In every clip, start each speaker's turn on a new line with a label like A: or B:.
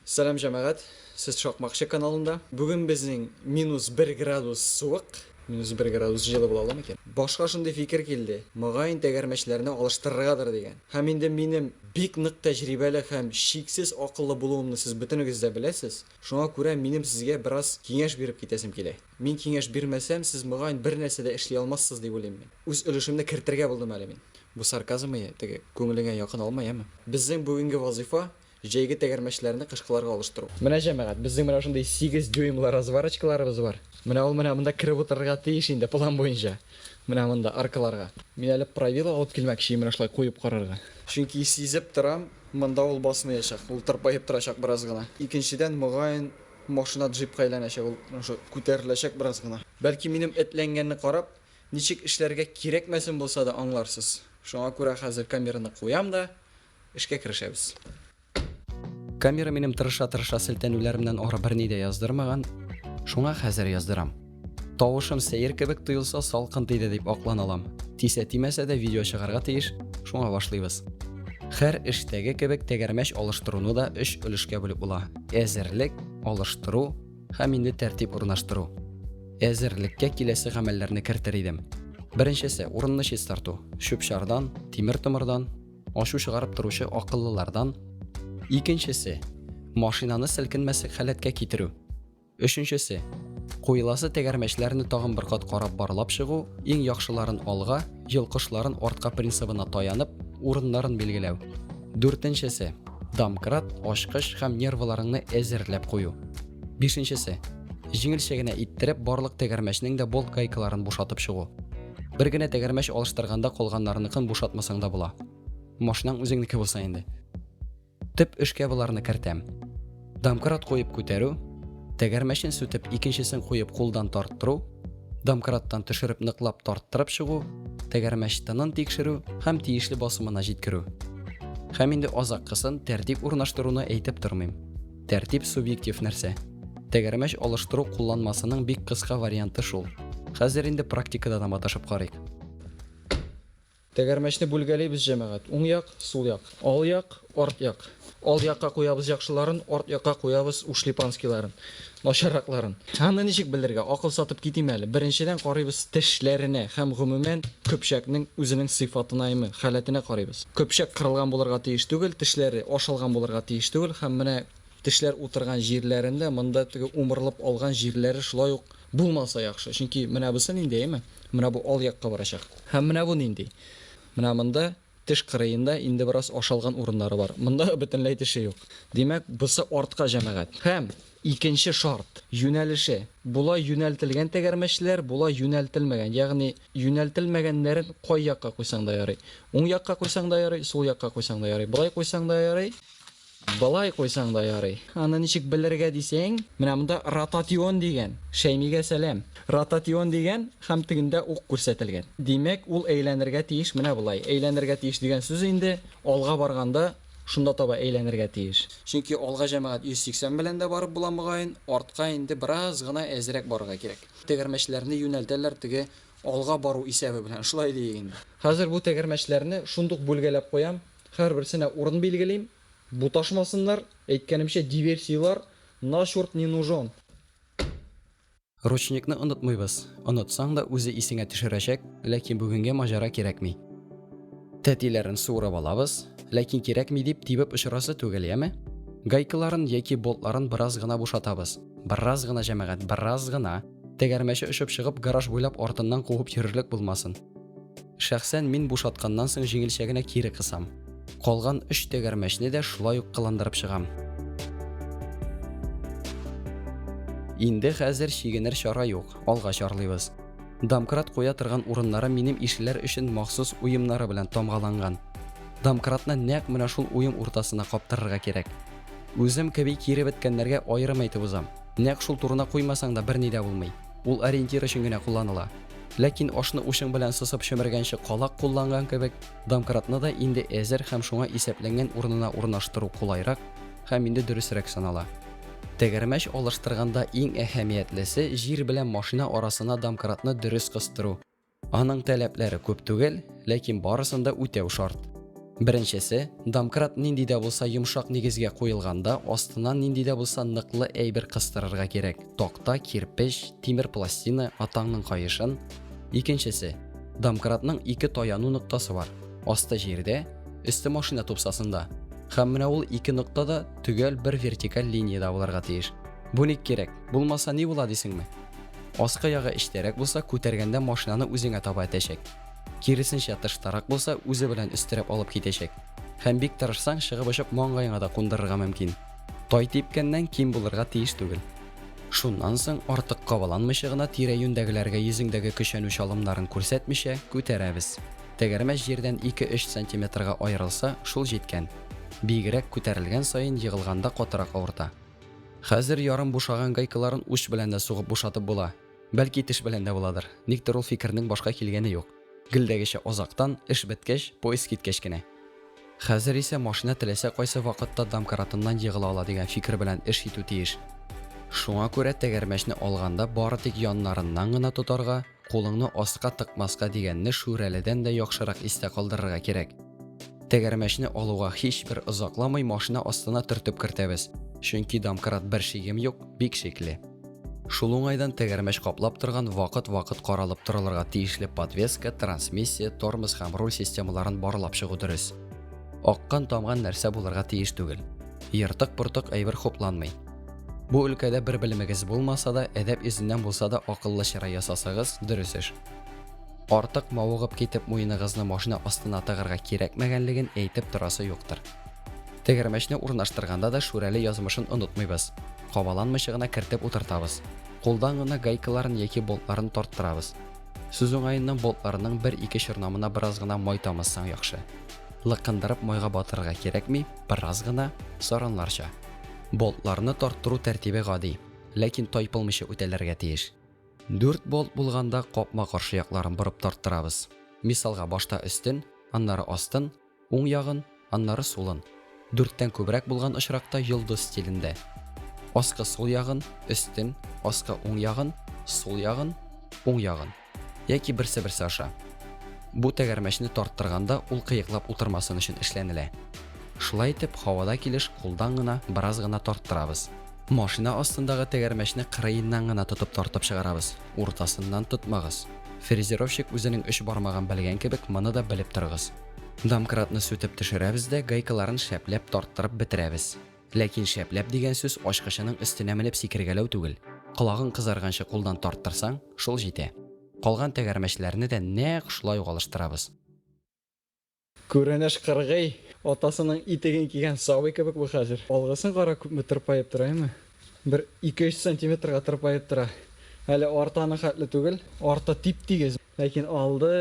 A: Сәлам җәмәгать, сез Шакмакчы каналында. Бүген безнең минус 1 градус суык, минус 1 градус җылы була ала микән? Башка шундый фикер килде, мөгаен тәгәрмәчләрне алыштырыргадыр дигән. Һәм инде минем бик нык тәҗрибәле һәм чиксез акыллы булуымны сез бөтенегез дә беләсез, шуңа күрә минем сезгә бераз киңәш биреп китәсем килә. Мин киңәш бирмәсәм, сез мөгаен бернәрсә дә эшли алмассыз дип уйлыйм мин. Үз өлешемне кертергә булдым әле мин. Бу сарказмые теге, күңелеңә якын алма, яме? Безнең бүгенге вазыйфа, җәйге тәгәрмәчләрне кышкыларга алыштыру. Менә, җәмәгать, безнең менә шундый сигез дюймлы разварочкаларыбыз бар. Менә ул менә монда кереп утырырга тиеш инде, план буенча. Менә монда, аркыларга. Мин әле правило алып килмәкче, менә шулай куеп карарга. Чөнки сизеп торам, монда ул басмаячак, ул тырпаеп торачак бераз гына. Икенчедән, мөгаен, машина джипка әйләнәчәк, ул күтәреләчәк бераз гына. Бәлки, минем этләнгәнне карап, Ничек эшләргә кирәкмәсен булса да аңларсыз. Шуңа күрә хәзер камераны куям да, эшкә керешәбез. Камера минем тырыша-тырыша селтәнүләремнән ары берни дә яздырмаган, шуңа хәзер яздырам. Тавышым сәер кебек тоелса, салкын тиде дип аклана алам. Тисә-тимәсә дә видео чыгарга тиеш, шуңа башлыйбыз. Хәр эштәге кебек тәгәрмәч алыштыруны да өч өлешкә бүлеп була, әзерлек, алыштыру, Һәм инде тәртип урнаштыру. Әзерлеккә киләсе гамәлләрне кертер идем. Беренчесе, урынны чистарту. Чүп-чардан, тимер-томырдан, ачу чыгарып торучы акыллылардан. Икенчесе, машинаны селкенмәслек халәткә китерү. Өченчесе, куеласы тәгәрмәчләрне тагын бер кат карап барлап чыгу, иң яхшыларын алга, йолкышларын артка принцибына таянып, урыннарын билгеләү. Дүртенчесе, домкрат, ачкыч һәм нерваларыңны әзерләп кую. Бишенчесе, җиңелчә генә иттереп барлык тәгәрмәчнең дә болт гайкаларын бушатып чыгу. Бер генә тәгәрмәч алыштырганда калганнарыныкын бушатмасаң да була. Машинаң үзеңнеке булса инде. Төп эшкә боларны кертәм. Домкрат куеп күтәрү, тәгәрмәчен сүтеп икенчесен куеп кулдан тарттыру, домкраттан төшереп ныклап тарттырып чыгу, тәгәрмәч тынын тикшерү һәм тиешле басымына җиткерү. Һәм инде азаккысын тәртип урнаштыруны әйтеп тормыйм. Тәртип субъектив нәрсә. Тәгәрмәч алыштыру кулланмасының бик кыска варианты шул. Хәзер инде практикада да маташып карыйк. Тәгәрмәчне бүлгәлибез, җәмәгать. Уң як, сул як. Ал як, арт як. Ал якка куябыз яхшыларын, арт якка куябыз ушлепанскийларын, начарракларын. Аны ничек белергә? Акыл сатып китим әле. Беренчедән карыйбыз тешләренә һәм гомумән көпчәкнең үзенең сыйфатынаимы, халәтенә карыйбыз. Көпчәк кырылган булырга тиеш түгел, тешләре ашалган булырга тиеш түгел һәм менә тешләр утырган җирләрендә монда теге умырылып алган җирләре шулай ук Булмаса яхшы, чөнки менә бусы нинди, әйеме? Менә бу ал якка барачак. Һәм менә бу нинди? Менә монда, теш кырыенда, инде бераз ашалган урыннары бар. Монда бөтенләй теше юк. Димәк, бусы артка, җәмәгать. Һәм икенче шарт, юнәлеше. Болай юнәлтелгән тәгәрмәчләр, болай юнәлтелмәгән. Ягъни юнәлтелмәгәннәрен кай якка куйсаң да ярый. Уң якка куйсаң да ярый, сул якка куйсаң да ярый. Болай куйсаң да ярый. Болай куйсаң да ярый. Аны ничек белергә дисәң, менә монда ротатион дигән. Шәймигә сәлам. Ротатион дигән һәм тегендә ук күрсәтелгән. Димәк, ул әйләнергә тиеш менә болай. Әйләнергә тиеш дигән сүз инде алга барганда шунда таба әйләнергә тиеш. Чөнки алга җәмәгать 180 белән дә барып була мөгаен, артка инде бераз гына әзрәк барырга кирәк. Тәгәрмәчләрне юнәлтәләр теге алга бару исәбе белән, шулай диик инде. Хәзер бу тәгәрмәчләрне шундук бүлгәләп куям. Һәрберсенә урын билгелим, буташмасыннар, әйткәнемчә, диверсияләр на чёрт не нужен. Ручникны онытмыйбыз, онытсаң да үзе исеңә төшерәчәк, ләкин бүгенге маҗара кирәкми. Тәтиләрен суырып алабыз, ләкин кирәкми дип тибеп очырасы түгел, яме? Гайкаларын яки болтларын бераз гына бушатабыз, бераз гына, җәмәгать, бераз гына, тәгәрмәче очып чыгып гараж буйлап артыннан куып йөрерлек булмасын. Шәхсән мин бушатканнан соң җиңелчә генә кире кысам. Калган өч тәгәрмәчне дә шулай ук кыландырып чыгам. Инде хәзер чигенер чара юк, алга чарлыйбыз. Домкрат куя торган урыннары минем ишеләр өчен махсус уемнары белән тамгаланган. Домкратны нәкъ менә шул уем уртасына каптырырга кирәк. Үзем кеби киребеткәннәргә аерым әйтеп узам. Нәкъ шул турына куймасаң да берни дә булмый. Ул ориентир өчен генә кулланыла. Ләкин ашны учың белән сосып чөмергәнче калак кулланган кебек, домкратны да инде әзер һәм шуңа исәпләнгән урынына урнаштыру кулайрак һәм инде дөресрәк санала. Тәгәрмәч алыштырганда иң әһәмиятлесе җир белән машина арасына домкратны дөрес кыстыру. Аның таләпләре күп түгел, ләкин барысын да үтәү шарт. Беренчесе,
B: домкрат нинди дә булса йомшак нигезгә куелганда, астына нинди дә булса ныклы әйбер кыстырырга кирәк. Такта, кирпеч, тимер пластина, атаңның каешын. Икенчесе, домкратның ике таяну ноктасы бар. Асты җирдә, өсте машина тупсасында. Һәм менә ул ике нокта да төгәл бер вертикаль линиядә булырга тиеш. Бу ник кирәк? Булмаса ни була дисеңме? Аскы ягы эчтәрәк булса, күтәргәндә машинаны үзеңә таба этәчәк. Киресенчә тыштарак булса, үзе белән өстерәп алып китәчәк. Һәм бик тырышсаң, чыгып очып маңгаеңа да кундырырга мөмкин. Тай типкәннән ким булырга тиеш түгел. Шуннан соң артык кабаланмыйча гына тирә-юньдәгеләргә йөзеңдәге көчәнү чалымнарын күрсәтмичә күтәрәбез. Тәгәрмәч җирдән 2-3 сантиметрга аерылса, шул җиткән. Биегрәк күтәрелгән саен егылганда катырак авырта. Хәзер ярым бушаган гайкаларын уч белән дә сугып бушатып була. Бәлки теш белән дә буладыр. Никтер ул фикернең башка килгәне юк. Гелдәгечә озактан, эш беткәч, поезд киткәч кенә. Хәзер исә машина теләсә кайсы вакытта домкратыннан егыла ала дигән фикер белән эш итү тиеш. Шуңа күрә тәгәрмәчне алганда бары тик яннарыннан гына тотарга, кулыңны астка тыкмаска дигәнне Шүрәледән дә яхшырак истә калдырырга кирәк. Тәгәрмәчне алуга һичбер озакламый машина астына төртеп кертәбез, чөнки домкрат бер шигем юк, бик шикле. Шул уңайдан тәгәрмәч каплап торган вакыт-вакыт каралып торылырга тиешле подвеска, трансмиссия, тормоз һәм руль системаларын барлап чыгу дөрес. Аккан-тамган нәрсә булырга тиеш түгел. Ертык-портык әйбер хупланмый. Бу өлкәдә бер белемегез булмаса да, әдәп йөзеннән булса да акыллы чыра ясасагыз, дөрес эш. Артык мавыгып китеп муеныгызны машина астына тыгырга кирәкмәгәнлеген әйтеп торасы юктыр. Тегермәчне урнаштырганда да Шүрәле язмышын онытмыйбыз. Кабаланмыйча гына кертеп утыртабыз. Кулдан гына гайкаларын яки болтларын тарттырабыз. Сүз уңаеннан болтларның бер-ике чорнамына бераз гына май тамызсаң яхшы. Лыкындырып майга батырырга кирәкми, бераз гына, саранларча. Болтларны тарттыру тәртибе гади, ләкин тайпылмыйча үтәлергә тиеш. Дүрт болт булганда капма-каршы якларын борып тарттырабыз. Мисалга башта өстен, аннары астын, уң ягын, аннары сулын. Дүрттән күбрәк булган очракта йолдыз стилендә. Аскы сул ягын, өстен, аскы уң ягын, сул ягын, уң ягын. Яки берсе-берсе аша. Бу тәгәрмәчне тарттырганда ул кыеклап утырмасын өчен эшләнелә. Шулай итеп, һавада килеш кулдан гына бераз гына тарттырабыз. Машина астындагы тәгәрмәчне кырыеннан гына тотып тартып чыгарабыз, уртасыннан тотмагыз. Фрезеровщик үзенең өч бармагын белгән кебек, моны да белеп торыгыз. Домкратны сүтеп төшерәбез дә гайкаларын шәпләп тарттырып бетерәбез. Ләкин шәпләп дигән сүз ачкычының өстенә менеп сикергәләү түгел, колагың кызарганчы кулдан тарттырсаң, шул җитә. Калган тәгәрмәчләрне дә нәкъ шулай ук алыштырабыз. Күренеш
A: кыргый, атасының итеген кигән сабый кебек бу хәзер. Алгысын кара, күпме тырпаеп тора, әйме? Бер ике-өч сантиметрга тырпаеп тора. Әле арты аның хәтле түгел, арты тип-тигез, ләкин алды,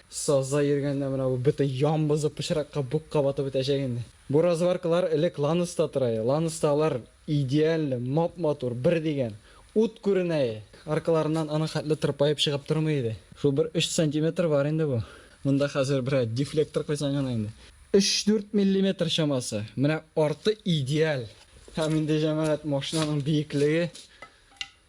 A: сазда йөргәндә менә бу бөтен ян бозып пычракка, букка батып бетәчәк инде. Бу разваркалар элек Ланыста тора иде. Ланыста алар Идеально, мап-матур, бер дигән. Ут күренәе! Аркаларыннан аның хәтле тырпаеп чыгып тормый иде. Шул бер өч сантиметр бар инде бу. Монда хәзер берәр дефлектор куйсаң гына инде. Өч-дүрт миллиметр чамасы. Менә арты идеаль. Һәм инде, җәмәгать, машинаның биеклеге.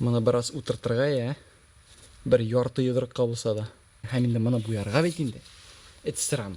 A: Моны бераз утыртырга, я? Бер ярты йодрыкка булса да. Һәм инде моны буярга бит инде. Эт сыран.